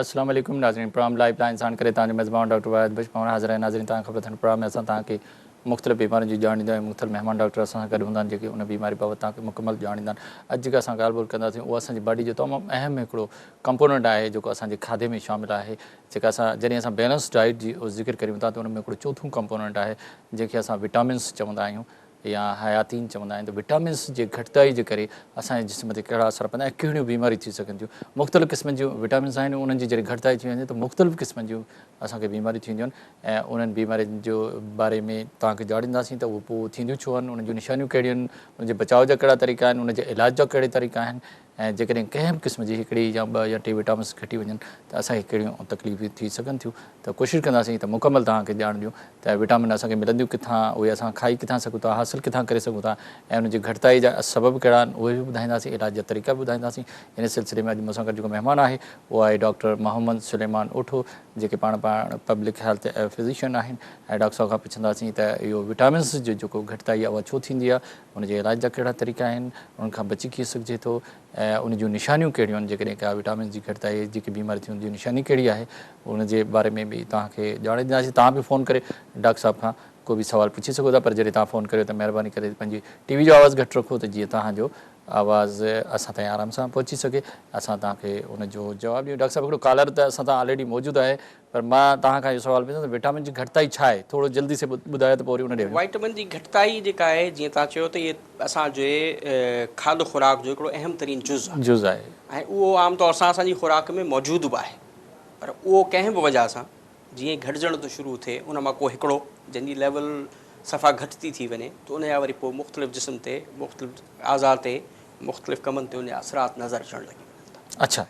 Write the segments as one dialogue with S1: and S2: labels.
S1: السلام عليڪم ناظرين پروگرام لائيف لائن ساڻ ڪري توهان جو ميزبان ڊاڪٽر وحيد بخش پاڻ حاضر آهي ناظرين توهان کي خبر اٿن پروگرام ۾ اسان توهان کي مختلف بيمارين جون ڄاڻ ڏيندو آهيون مختلف مهمان ڊاڪٽر اسان سان گڏ هوندا آهن جيڪي ان بيماري بابت توهان کي مڪمل ڄاڻ ڏيندا آهن اڄ جيڪا اسان ڳالهه ٻولهه ڪنداسين اها اسان جي باڊي جو تمام اهم هڪڙو ڪمپوننٽ آهي جيڪو اسان جي کاڌي ۾ شامل آهي جيڪا اسان جڏهن اسان بيلنس ڊائيٽ جي ذڪر ڪريون ٿا ته ان ۾ هڪڙو چوٿون ڪمپوننٽ آهي جنهن کي اسان وٽامنس چوندا آهيون يا حياتين چوندا آهن ته وٽامنس جي گهٽتائي جي ڪري اسان جي جسم تي ڪهڙا اثر پوندا ۽ ڪهڙيون بيماريون ٿي سگهن ٿيون مختلف قسمن جون وٽامنس آهن انهن جي جڏهن گهٽتائي ٿي وڃي ته مختلف قسمن جون اسان کي بيماريون ٿينديون آهن ۽ انهن بيمارين جي باري ۾ توهان کي ڄاڻينداسين ته اهي پوء ٿينديون ڇو آهن انهن جون نشانيون ڪهڙيون آهن انهن جي بچاء جا ڪهڙا طريقا آهن انهن جي علاج جا ڪهڙي طريقا آهن ۽ جيڪڏهن ڪنهن به قسم جي هڪڙي يا ٻه يا ٽي وٽامنس گهٽي وڃن ته اسان کي ڪهڙيون تڪليفون ٿي سگهن ٿيون ته ڪوشش ڪنداسين ته مڪمل توهان کي ڄاڻ ڏيون ته وٽامن اسان کي ملنديون ڪٿان اهي اسان کائي ڪٿان سگهون ٿا حاصل ڪٿان ڪري سگهون ٿا ۽ ان جي گهٽتائي جا سبب ڪهڙا آهن اهي به ٻڌائينداسين علاج جا طريقا به ٻڌائينداسين ان سلسلي ۾ اڄ مون سان گڏ جيڪو مهمان آهي اهو آهي ڊاڪٽر محمد سليمان اوٺو جيڪي پاڻ پاڻ پبلڪ هيلٿ فزيشن آهن ۽ ڊاڪٽر صاحب کان پڇنداسين ته اهو وٽامنس جو جيڪو گهٽتائي اها ڇو ٿيندي آهي ان جي علاج جا ڪهڙا طريقا آهن، انهن کان بچي ڪيئن سگهجي ٿو ۽ ان جون نشانيون ڪهڙيون آهن، جيڪڏهن ڪا وٽامنز جي گهٽتائي جيڪي بيماري ٿي ان جي نشاني ڪهڙي آهي، ان جي باري ۾ به توهان کي ڄاڻ ڏينداسين، توهان به فون ڪري ڊاڪٽر صاحب کان ڪو به سوال پڇي سگهو ٿا پر جڏهن توهان فون ڪريو ته مهرباني ڪري پنهنجي ٽي وي جو آواز گهٽ رکو ته جيئن توهان جو آواز اسان تائين آرام سان پهچي سگهي، اسان توهان کي ان جو جواب ڏيون، ڊاڪٽر صاحب هڪڙو ڪالر ته اسان تان آلريڊي موجود آهي، پر مان توهان کان اهو سوال پڇان ٿو وٽامن جي گهٽتائي ڇا آهي ٿورو جلدي سي ٻڌايو ته پوء وري ان ڏي وڃون. وٽامن جي گهٽتائي
S2: جيڪا آهي جيئن توهان چيو ته هي اسان جي کاڌ خوراڪ جو هڪڙو اهم ترين جز آهي جز آهي. ۽
S1: اهو عام طور
S2: سان اسان جي خوراڪ ۾ موجود به آهي پر اهو ڪنهن به وجهه سان جيئن ئي گهٽجڻ ٿو شروع ٿئي ان مان ڪو هڪڙو جنهن جي ليول صفا گهٽ ٿي ٿي وڃي ته ان جا وري پوء مختلف جسم تي مختلف اعضاء تي مختلف ڪمن تي ان جا اثرات نظر اچڻ لڳي وڃن ٿا. اڇا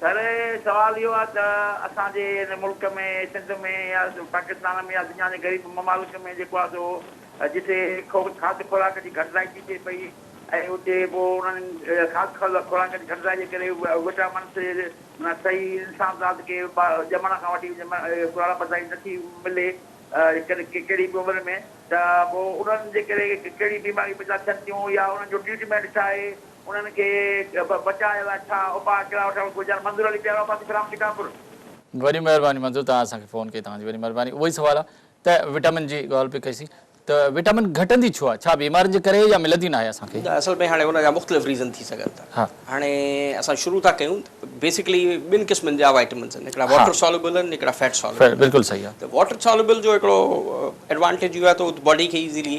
S1: پر
S3: سوال اهو آهي ته اسان جي هن ملڪ ۾ سنڌ ۾ يا پاڪستان ۾ يا دنيا جي غريب ممالڪ ۾ جيڪو آهي سو جتي کاڌ خوراڪ جي گهٽتائي ٿي ٿئي پئي ۽ اتي پوء انهن کاڌ خوراڪ جي گهٽتائي جي ڪري وٽامنس معنيٰ صحيح انسان ذات کي ڄمڻ کان وٺي ڪراڙپ تائين نه ٿي ملي ڪهڙي به عمر ۾ ته پوء انهن جي ڪري ڪهڙي بيماريون پيدا ٿين ٿيون يا انهن جو ٽريٽمينٽ ڇا آهي؟ انهن کي بچايو يا ڇا اپاء ڪهڙا وٺڻ گهرجن منظور علي پيارو آباد اسلام شڪارپور. وڏي
S1: مهرباني منظور توهان اسان کي فون ڪئي توهان جي وڏي مهرباني اهو ئي سوال آ ته وٽامن جي ڳالهه پئي ڪئي سين ته وٽامن گهٽندي ڇو آ ڇا بيمارين جي ڪري يا ملندي ناهي اسان کي. اصل ۾ هاڻي ان جا
S2: مختلف ريزن ٿي سگهن ٿا هاڻي
S1: اسان
S2: شروع ٿا ڪيون بيسڪلي ٻن قسمن جا وائٽامنس آهن هڪڙا واٽر سالوبل آهن هڪڙا فيٽ سالوبل آهن بلڪل صحيح آ ته واٽر
S1: سالوبل جو
S2: هڪڙو ايڊوانٽيج اهو آ ته هو باڊي کي ايزلي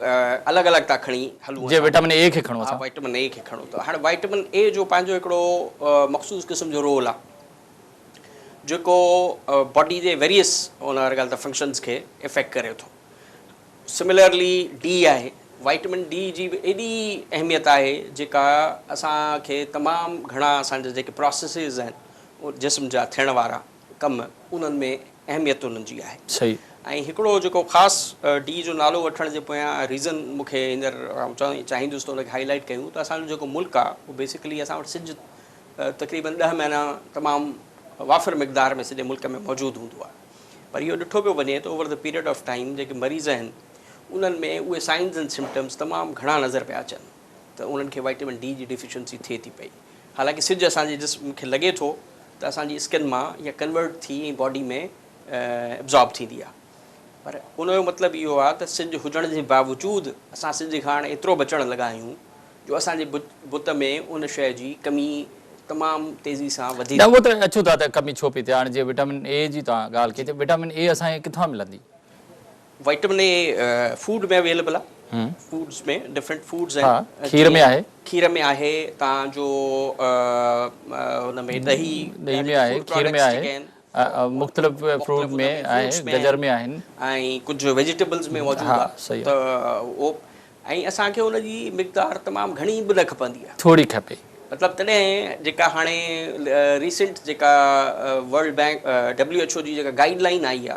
S2: الڳ الڳ ٿا کڻي هلون. جيئن وٽامن اي کي کڻو ٿا.
S1: وٽامن اي کي کڻو
S2: ٿا. هاڻي وٽامن اي جو پنهنجو هڪڙو مخصوص قسم جو رول آهي جيڪو باڊي جي ويريس ان هر ڳالهه ته فنڪشنز کي افيڪٽ ڪري ٿو. سملرلي ڊي آهي. وٽامن ڊي جي به ايڏي اهميت آهي جيڪا اسان کي تمام گهڻا اسان جا جيڪي پراسيسز آهن جسم جا ٿيڻ وارا. ڪم انهن ۾ اهميت انهن جي آهي ۽ هڪڙو
S1: جيڪو
S2: خاص ڊي جو نالو وٺڻ جي پويان ريزن مون کي هينئر آئون چوڻ چاهيندس ته ان کي هائي لائيٽ ڪيون ته اسان جو جيڪو ملڪ آهي اهو بيسڪلي اسان وٽ سج تقريبن ڏهه مهينا تمام وافر مقدار ۾ سڄي ملڪ ۾ موجود هوندو آهي پر اهو ڏٺو پيو وڃي ته over the period of time جيڪي مريض آهن انهن ۾ اهي سائنز اينڊ سمپٽمز تمام گهڻا نظر پيا اچن ته انهن کي وائٽمن ڊي جي ڊيفيشنسي ٿئي ٿي پئي حالانڪه سج اسان جي جسم کي لڳي ٿو ته اسان جي اسڪن مان اها ڪنورٽ ٿي ۽ باڊي ۾ ابزارب ٿيندي آهي پر ان جو مطلب اهو آهي ته سج هجڻ جي باوجود اسان سج کان هاڻي ايترو بچڻ لڳا آهيون جو اسان جي بت ۾ ان شيء جي ڪمي تمام تيزي سان وڌي ٿي. اهو ته اچو ٿا
S1: ته ڪمي ڇو پئي ٿئي هاڻي جيئن وٽامن اي جي توهان ڳالهه ڪئي ته وٽامن اي اسان کي ڪٿان ملندي؟ وائٽمن
S2: اي فوڊ ۾ اويليبل آ فوڊس ۾ ڊفرنٽ فوڊس آهن ها کير ۾ آهي کير
S1: ۾ آهي
S2: تان جو ان ۾ ڏهي ڏهي ۾ آهي کير
S1: ۾ آهي مختلف فروٽ ۾ آهي گجر ۾ آهن ۽ ڪجهه
S2: ويجيٽيبلز ۾ موجود آ ته او ۽ اسان کي ان جي مقدار تمام گهڻي به نه کپندي آ ٿوري کپي مطلب
S1: تڏهن
S2: جيڪا هاڻي ريسنٽ جيڪا World Bank W H O جي جيڪا گائيڊ لائين آئي آ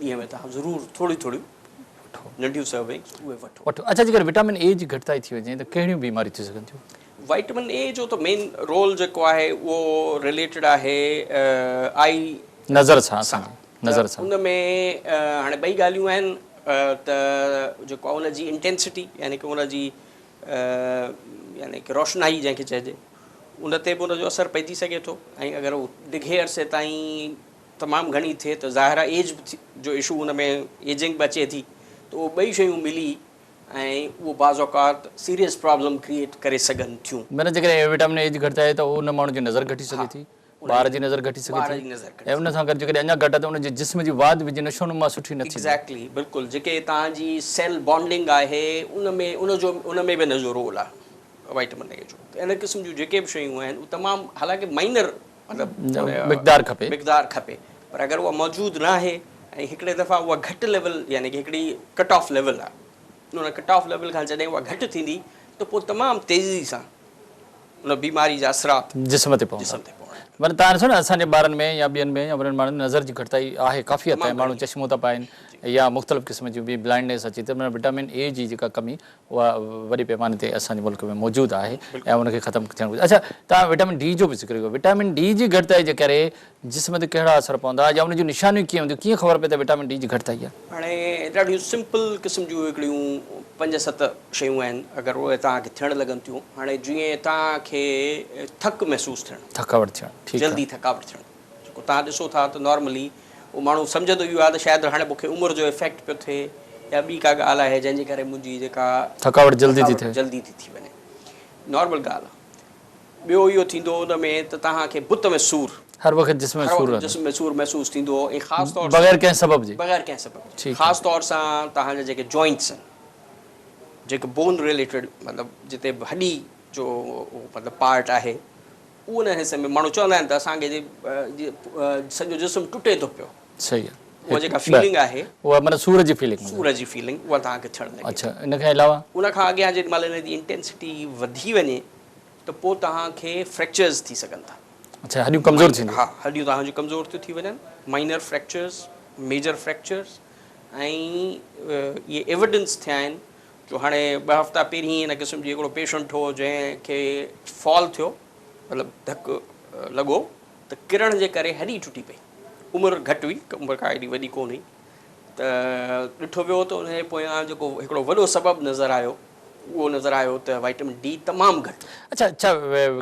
S2: ڏينهن ۾ توهان ضرور ٿوريون ٿوريون ننڍيون سروينگز اهي وٺو. اڇا جيڪڏهن وٽامن اي جي
S1: گهٽتائي ٿي وڃي ته ڪهڙيون بيماريون ٿي سگهن ٿيون؟ وٽامن اي جو
S2: ته مين رول جيڪو آهي اهو رليٽيڊ آهي آئي نظر
S1: سان ته ان ۾
S2: هاڻي ٻئي ڳالهيون آهن ته جيڪو ان جي انٽينسٽي يعني ڪه ان جي يعني ڪه روشنائي جنهن کي چئجي ان تي به ان جو اثر پئجي سگهي ٿو ۽ اگر هو ڊگهي عرصي تائين تمام گهڻي ٿئي ته ظاهر آهي ايج به جو اشو ان ۾ ايجنگ به اچي ٿي ته اهو ٻئي شيون ملي ۽ اهو بعض اوقات سيريس پرابلم ڪريئيٽ ڪري سگهن ٿيون. مطلب جيڪڏهن وٽامن اي
S1: جي گهٽتائي آهي ته ان ماڻهو جي نظر گهٽي سگهي ٿي، ٻار جي نظر گهٽي سگهي ٿي ۽ ان سان گڏ جيڪڏهن اڃا گهٽ آهي ته ان جي جسم جي واڌ به جي نشونما سٺي نه ٿيندي. ايگزيڪٽلي بلڪل جيڪي
S2: توهان جي سيل بانڊنگ آهي ان ۾ ان جو ان ۾ به ان جو رول آهي وائٽامن اي جو ته ان قسم جون جيڪي به شيون آهن اهي تمام حالانڪه مائنر مقدار کپي مقدار کپي پر اگر اها موجود ناهي ۽ هڪڙي دفعا اها گهٽ ليول يعني ڪي هڪڙي ڪٽ آف ليول آهي ان ڪٽ آف ليول کان جڏهن اها گهٽ ٿيندي ته پوء تمام تيزي سان ان بيماري جا اثرات جسم تي پوندا جسم تي
S1: پوندا ورنه تان ڏسو نه اسان جي ٻارن ۾ يا ٻين ۾ يا وڏن ماڻهن ۾ نظر جي گهٽتائي آهي ڪافي حد تائين ماڻهو چشمو ٿا پائين يا مختلف قسم جون بي بلائنڊنيس اچي ٿي معنيٰ وٽامن اي جي جيڪا ڪمي اها وڏي پيماني تي اسان جي ملڪ ۾ موجود آهي ۽ ان کي ختم ٿيڻ گهرجي. اڇا توهان وٽامن ڊي جو به ذڪر ڪيو. وٽامن ڊي جي گهٽتائي جي ڪري جسم تي ڪهڙا اثر پوندا يا ان جون نشانيون ڪيئن هونديون ڪيئن خبر پئي ته وٽامن ڊي جي گهٽتائي آهي. هاڻي ڏاڍيون
S2: سمپل قسم جون هڪڙيون پنج ست شيون آهن اگر اهي توهان کي ٿيڻ لڳن ٿيون هاڻي جيئن توهان کي ٿڪ محسوس ٿيڻ. ٿڪاوٽ ٿيڻ ٺيڪ آهي. جلدي
S1: ٿڪاوٽ ٿيڻ
S2: جيڪو توهان ڏسو ٿا ته نارملي. اهو ماڻهو سمجهندو اهو آهي ته شايد هاڻي مون کي عمر جو افيڪٽ پيو ٿئي يا ٻي ڪا ڳالهه آهي جنهن جي ڪري منهنجي جيڪا ٿڪاوٽ جلدي ٿي
S1: ٿئي. جلدي ٿي ٿي وڃي
S2: نارمل ڳالهه آهي. ٻيو اهو ٿيندو ان ۾ ته توهان کي بت ۾ سور. هر وقت جسم ۾ هر سور
S1: وقت رهندو. جسم ۾ سور محسوس ٿيندو ۽ خاص
S2: طور سان بغير ڪنهن سبب جي. بغير
S1: ڪنهن سبب جي ٺيڪ خاص آهي. طور
S2: سان توهان جا جيڪي جوائنٽس آهن جيڪي بون ريليٽيڊ مطلب جتي به هڏي جو مطلب پارٽ آهي. ان حصي ۾ ماڻهو چوندا آهن ته اسان کي سڄو جسم ٽٽي ٿو پيو. صحيح آ. اها جيڪا
S1: فيلنگ آهي.
S2: اها معنيٰ سور جي فيلنگ
S1: هوندي. سور جي فيلنگ اها توهان کي
S2: ٿيڻ لڳي. اڇا ان کان علاوه.
S1: ان کان اڳيان جيڏي مهل
S2: ان جي انٽينسٽي وڌي وڃي ته پوء توهان کي فريڪچرز ٿي سگهن ٿا. اڇا هڏيون ڪمزور
S1: ٿينديون. ها هڏيون توهان جون ڪمزور
S2: ٿيون ٿي وڃن. مائنر فريڪچرز، ميجر فريڪچرز ۽ اهي ايوڊنس ٿيا آهن جو هاڻي ٻه هفتا پهرين ان قسم جي هڪڙو پيشنٽ هو جنهن کي فال ٿيو مطلب ڌڪ لڳو ته ڪرڻ جي ڪري هڏي ٽٽي پئي عمر گهٽ هئي عمر ڪا ايڏي وڏي ڪون هئي ته ڏٺو ويو ته ان جي پويان جيڪو هڪڙو وڏو سبب نظر آيو اهو نظر آيو ته وائٽمن ڊي تمام گهٽ اڇا ڇا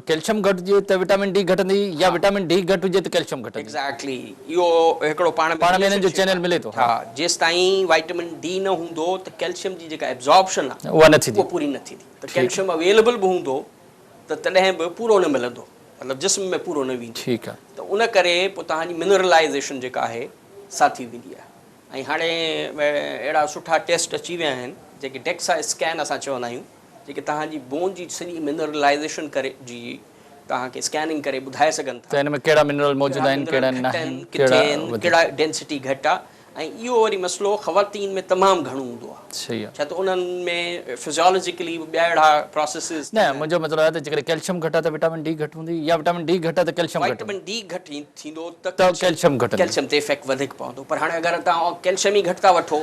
S1: ڪيلشم گهٽ هجي ته وٽامن ڊي گهٽندي يا وٽامن ڊي گهٽ هجي ته ڪيلشم گهٽندي. ايگزيڪٽلي اهو
S2: هڪڙو پاڻ ۾ پاڻ ۾ انهن جو چينل ملي ٿو ها.
S1: جيستائين
S2: وائٽامن ڊي نه هوندو ته ڪيلشم جي جيڪا ابزاربشن آهي اها نه ٿيندي اها پوري نه
S1: ٿيندي ته
S2: ڪيلشم اويليبل به هوندو ته تڏهن به پورو نه ملندو مطلب جسم ۾ پورو نه ويندو ٺيڪ آهي. ته ان ڪري
S1: پوء
S2: توهان جي منرلائيزيشن جيڪا آهي سا ٿي ويندي آهي ۽ هاڻي اهڙا سٺا ٽيسٽ اچي ويا آهن جيڪي ڊيڪسا اسڪين اسان چوندا آهيون. جيڪي توهان جي بون جي سڄي منرلائيزيشن ڪري جي توهان کي اسڪيننگ ڪري ٻڌائي سگهن ٿا. ته ان ۾ ڪهڙا منرل موجود
S1: آهن ڪهڙا ناهن ڪهڙا وڌيڪ ڪهڙا
S2: ڊينسٽي گهٽ آ ۽ اهو وري مسئلو خواتين ۾ تمام گهڻو هوندو آ ڇا ته انهن
S1: ۾
S2: فزيالوجيڪلي به ٻيا اهڙا پراسيسز نه منهنجو مطلب آهي ته
S1: جيڪڏهن ڪيلشم گهٽ آ ته وٽامن ڊي گهٽ هوندي يا وٽامن ڊي گهٽ آ ته ڪيلشم گهٽ وٽامن ڊي گهٽ ٿيندو
S2: ته ڪيلشم
S1: گهٽ ڪيلشم تي افيڪٽ وڌيڪ
S2: پوندو پر هاڻي اگر توهان ڪيلشم ئي گهٽ ٿا وٺو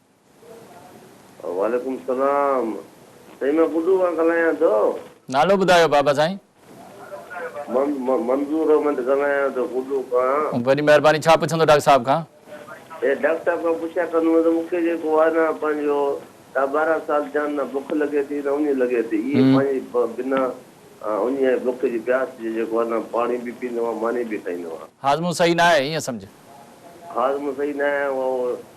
S1: وعليڪم
S4: السلام سائين مان ٻڍو کان ڳالهايان ٿو. نالو ٻڌايو
S1: بابا سائين. مان
S4: منظور احمد ڳالهايان ٿو ٻڍو کان. وڏي مهرباني ڇا پڇندو
S1: ڊاڪٽر صاحب کان. اي ڊاڪٽر صاحب
S4: کان پڇيا ڪندم ته مون کي جيڪو آهي نه پنهنجو ڏهه ٻارهن سال ٿيا آهن نه بک لڳي ٿي نه اڃ لڳي ٿي اي پنهنجي بنا اڃ ۽ بک جي پياس جي جيڪو آهي نه پاڻي به پيندو آهيان ماني به کائيندو آهيان. هاضمو صحيح نه آهي ايئن
S1: سمجهه. هاضمو
S4: صحيح نه آهي اهو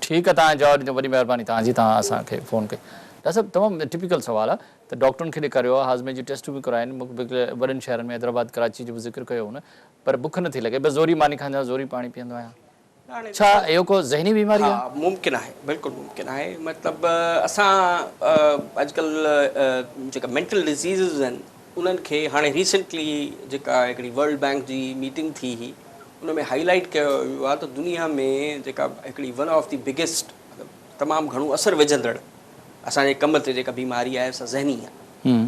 S4: ٺيڪ آ توهان جواب ڏنو
S1: وڏي مهرباني توهان جي توهان اسان کي فون ڪئي. ڊاڪٽر صاحب تمام ٽپيڪل سوال آ ته ڊاڪٽرن کي ڏيکاريو آ هاضمي جون ٽيسٽون به ڪرايون مک بک وڏن شهرن ۾ حيدرآباد ڪراچي جو به ذڪر ڪيو هن پر بک نٿي لڳي بس زوري ماني کائيندو آهيان زوري پاڻي پيئندو آهيان ڇا اهو ڪو ذهني بيماري آ. ها ممڪن آهي بلڪل
S2: ممڪن آهي مطلب اسان اڄڪلهه جيڪا مينٽل ڊزيزز آهن انهن کي هاڻي ريسينٽلي جيڪا هڪڙي ورلڊ بينڪ جي ميٽنگ ٿي هئي ان ۾ هائي لائيٽ ڪيو ويو آهي ته دنيا ۾ جيڪا هڪڙي ون آف دي بگيسٽ مطلب تمام گهڻو اثر وجهندڙ اسان جي ڪم تي جيڪا بيماري آهي سا ذهني آهي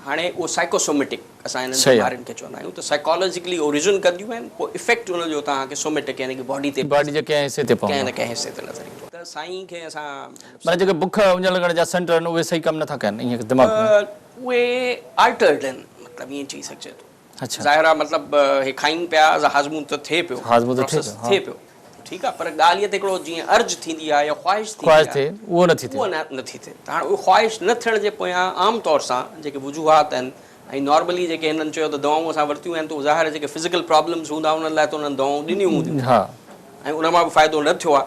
S2: هاڻي اهو سائيڪوسوميٽڪ اسان انهن بيمارين کي چوندا آهيون ته سائيڪالاجيڪلي اوريجن ڪنديون آهن پوء افيڪٽ ان جو توهان کي سوميٽڪ يعني ڪي باڊي تي باڊي جي ڪنهن حصي تي پوندو ڪنهن
S1: نه ڪنهن حصي تي نظر
S2: ايندو ته سائين کي اسان مطلب جيڪي بک
S1: اڃ لڳڻ جا سينٽر آهن اهي صحيح ڪم نٿا ڪن ائين دماغ ۾ اهي
S2: آلٽرڊ آهن مطلب ائين چئي سگهجي ٿو. ظاهر آهي مطلب
S1: اهي
S2: کائين پيا هاضمون ته ٿئي پيو پروسيس ٿئي پيو ٺيڪ آهي پر ڳالهه اها ته هڪڙو جيئن ارج ٿيندي آهي يا خواهش ٿيندي آهي
S1: اها نٿي ٿئي ته هاڻي
S2: اهي خواهش نه ٿيڻ جي پويان عام طور سان جيڪي وجوهات آهن ۽ نارملي جيڪي هنن چيو ته دوائون اسان ورتيون آهن ته ظاهر آهي جيڪي فزيڪل پرابلمز هوندا انهن لاء ته انهن دوائون ڏنيون هونديون ۽ انهن مان به فائدو نه ٿيو آهي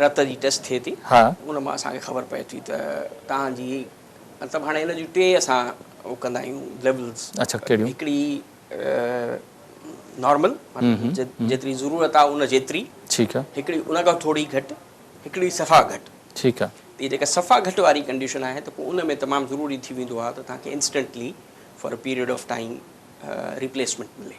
S1: رت
S2: جي ٽيسٽ ٿئي ٿي ان مان اسان کي خبر
S1: پئي
S2: ٿي ته توهان جي مطلب هاڻي ان جون ٽي اسان هو ڪندا آهيون ليولز هڪڙي نارمل جيتري ضرورت آهي ان جيتري هڪڙي ان
S1: کان ٿوري گهٽ
S2: هڪڙي صفا گهٽ ٺيڪ آهي هي جيڪا
S1: صفا گهٽ
S2: واري ڪنڊيشن آهي ته پوء ان ۾ تمام ضروري ٿي ويندو آهي ته توهان کي instantly for a period of time replacement ملي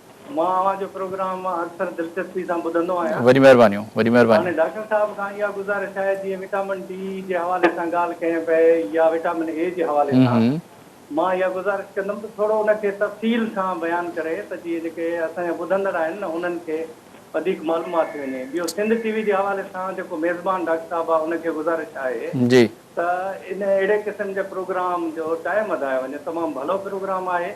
S5: مان اوهان جو پروگرام اڪثر دلچسپي سان ٻڌندو آهيان. وڏي مهربانيون وڏي
S1: مهربانيون. هاڻي ڊاڪٽر صاحب کان اها
S5: گذارش آهي جيئن وٽامن ڊي جي حوالي سان ڳالهه ڪئي پئي يا وٽامن اي جي حوالي سان مان اها گذارش ڪندم ته ٿورو ان کي تفصيل سان بيان ڪري ته جيئن جيڪي اسان جا ٻڌندڙ آهن نه انهن کي وڌيڪ معلومات ٿي وڃي ٻيو سنڌ ٽي وي جي حوالي سان جيڪو ميزبان ڊاڪٽر صاحب آهي ان کي گذارش آهي ته
S1: ان
S5: اهڙي قسم جي پروگرام جو ٽائم وڌايو وڃي تمام ڀلو پروگرام آهي.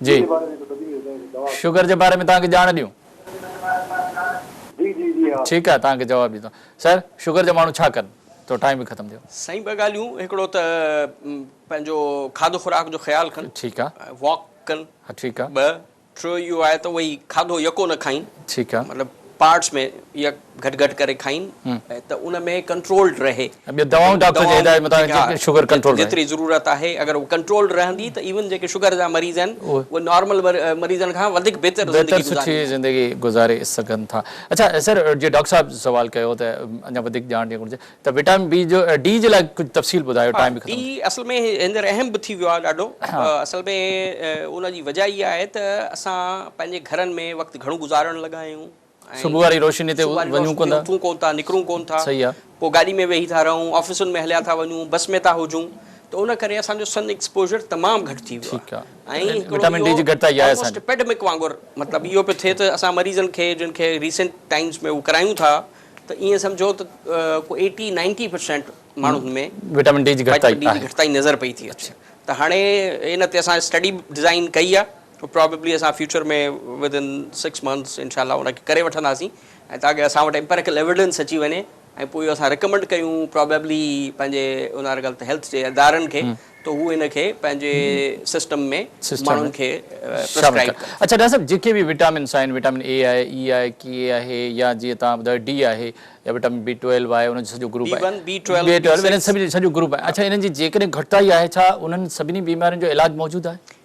S6: جي شگر جي باري ۾ توهان
S1: کي ڄاڻ ڏيون.
S6: ٺيڪ آهي توهان کي جواب ڏيون ٿا
S1: سر شگر جا ماڻهو ڇا ڪن تو ٽائيم به ختم ٿيو. سائين ٻه ڳالهيون
S2: هڪڙو ته پنهنجو کاڌو خوراڪ جو خيال ڪن ٺيڪ آ واڪ
S1: ڪن ها
S2: ٺيڪ آ ٻه
S1: ٽيو اهو
S2: آهي ته اهي کاڌو يڪو نه کائين ٺيڪ آ مطلب
S1: پارٽس ۾
S2: يا گهٽ گهٽ ڪري کائين ته ان ۾ ڪنٽرولڊ رهي. ٻيون دوائون ڊاڪٽر جي
S1: هدايت مطابق شگر ڪنٽرول ۾ رهي. جيتري ضرورت آهي
S2: اگر هو ڪنٽرولڊ رهندي ته ايون جيڪي شگر جا مريض آهن اهي نارمل مريضن کان وڌيڪ بهتر زندگي گذاري بهتر سٺي زندگي
S1: گذاري سگهن ٿا. اڇا سر جيئن ڊاڪٽر صاحب سوال ڪيو ته اڃا وڌيڪ ڄاڻ ڏيڻ گهرجي ته وٽامن بي جو ڊي جي لاء ڪجهه تفصيل ٻڌايو ٽائيم به ختم ٿي ويو. ڊي اصل ۾ هينئر
S2: اهم به ٿي ويو آهي ڏاڍو اصل ۾ ان جي وجهه اها آهي ته اسان پنهنجي گهرن ۾ وقت گهڻو گذارڻ لڳا آهيون. صبح واري روشني
S1: تي وڃون ڪونه ٿا. اٿون ڪونه ٿا، نڪرون ڪونه
S2: ٿا. صحيح آ. پوء گاڏي ۾
S1: ويهي ٿا
S2: رهون، آفيسن ۾ هليا ٿا وڃون، بس ۾ ٿا هجون ته ان ڪري اسان جو سن ايڪسپوزر تمام گهٽ ٿي ويو آ. ۽ هڪڙو اهو آلموسٽ
S1: اپيڊمڪ وانگر
S2: مطلب اهو پيو ٿئي ته اسان مريضن کي جن کي ريسنٽ ٽائيمز ۾ هو ڪرايون ٿا ته ائين سمجهو ته ڪو ايٽي نائنٽي پرسينٽ ماڻهن ۾ وٽامن ڊي جي
S1: گهٽتائي نظر پئي
S2: ٿي اچي ته هاڻي ان تي اسان اسٽڊي به ڊزائين ڪئي آ. پرابيبلي اسان future ۾ within six months انشاء الله ان کي ڪري وٺنداسين ۽ تاڪه اسان وٽ امپيريڪل ايويڊنس اچي وڃي ۽ پوء اهو اسان رڪمنڊ ڪيون پرابيبلي پنهنجي ان هر ڳالهه تي هيلٿ جي ادارن کي ته هو ان کي پنهنجي سسٽم ۾ ماڻهن کي پرسڪرائيب ڪن. اڇا ڊاڪٽر صاحب جيڪي
S1: به وٽامنس آهن وٽامن اي آهي اي آهي ڪي آهي يا جيئن توهان ٻڌايو ڊي آهي يا وٽامن بي ٽويلو آهي ان جو سڄو گروپ آهي بي ون بي ٽويلو انهن سڀني جو سڄو گروپ آهي اڇا انهن جي جيڪڏهن گهٽتائي آهي ڇا انهن سڀني بيمارين جو علاج موجود آهي؟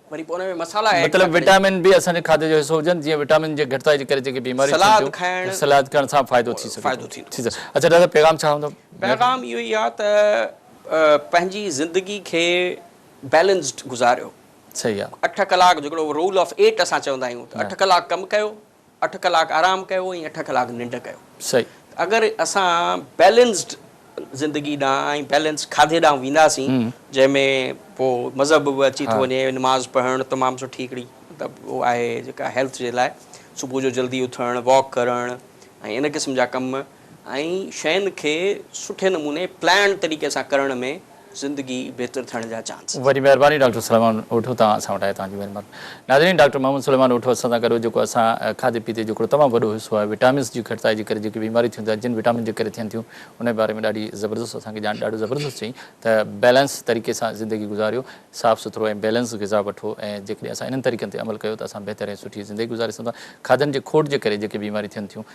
S2: وري پوء ان ۾ مصالحا ايڊ مطلب ٿا ڪريون. وٽامن به
S1: اسان جي کاڌي جو حصو هجن جيئن وٽامن جي گهٽتائي جي ڪري جيڪي بيماريون ٿين سلاد ٿيون کائڻ سلاد
S2: کائڻ سان فائدو
S1: ٿي سگهي ٿو. فائدو ٿيندو ٺيڪ آهي. اچا ڊاڪٽر صاحب پيغام ڇا هوندو؟ پيغام اهو ئي آهي
S2: ته پنهنجي زندگي کي بيلنسڊ گذاريو. صحيح آهي. اٺ
S1: ڪلاڪ جيڪڙو رول
S2: آف ايٽ اسان چوندا آهيون ته اٺ ڪلاڪ ڪم ڪيو اٺ ڪلاڪ آرام ڪيو ۽ اٺ ڪلاڪ ننڊ ڪيو صحيح اگر
S1: اسان
S2: بيلنسڊ زندگي ڏانهن ۽ بيلنس کاڌي ڏانهن وينداسين جنهن ۾ پوء مذهب به اچي ٿو وڃي نماز پڙهڻ تمام سٺي هڪڙي مطلب هو آهي جيڪا هيلٿ جي لاء صبح جو جلدي اٿڻ واڪ ڪرڻ ۽ ان قسم جا ڪم ۽ شين کي سٺي نموني پلانڊ طريقي سان ڪرڻ ۾ زندگي بهتر ٿيڻ جا چانس. وڏي مهرباني ڊاڪٽر سليمان
S1: اوٺو تان اسان وٽ آيو توهان جي مهرباني ناظرين ڊاڪٽر محمد سليمان اوٺو اسان سان گڏ هو جيڪو اسان کاڌي پيتي جو هڪڙو تمام وڏو حصو آهي وٽامنس جي گهٽتائي جي ڪري جيڪي بيماريون ٿيون ٿا جن وٽامن جي ڪري ٿين ٿيون ان جي باري ۾ ڏاڍي زبردست اسان کي ڄاڻ ڏاڍو زبردست چيائين ته بيلنس طريقي سان زندگي گذاريو صاف سٿرو ۽ بيلنس غذا وٺو ۽ جيڪڏهن اسان انهن طريقن تي عمل ڪيو ته اسان بهتر ۽ سٺي زندگي گذاري سگهون ٿا کاڌن جي کوٽ جي ڪري جيڪي بيماريون ٿين ٿيون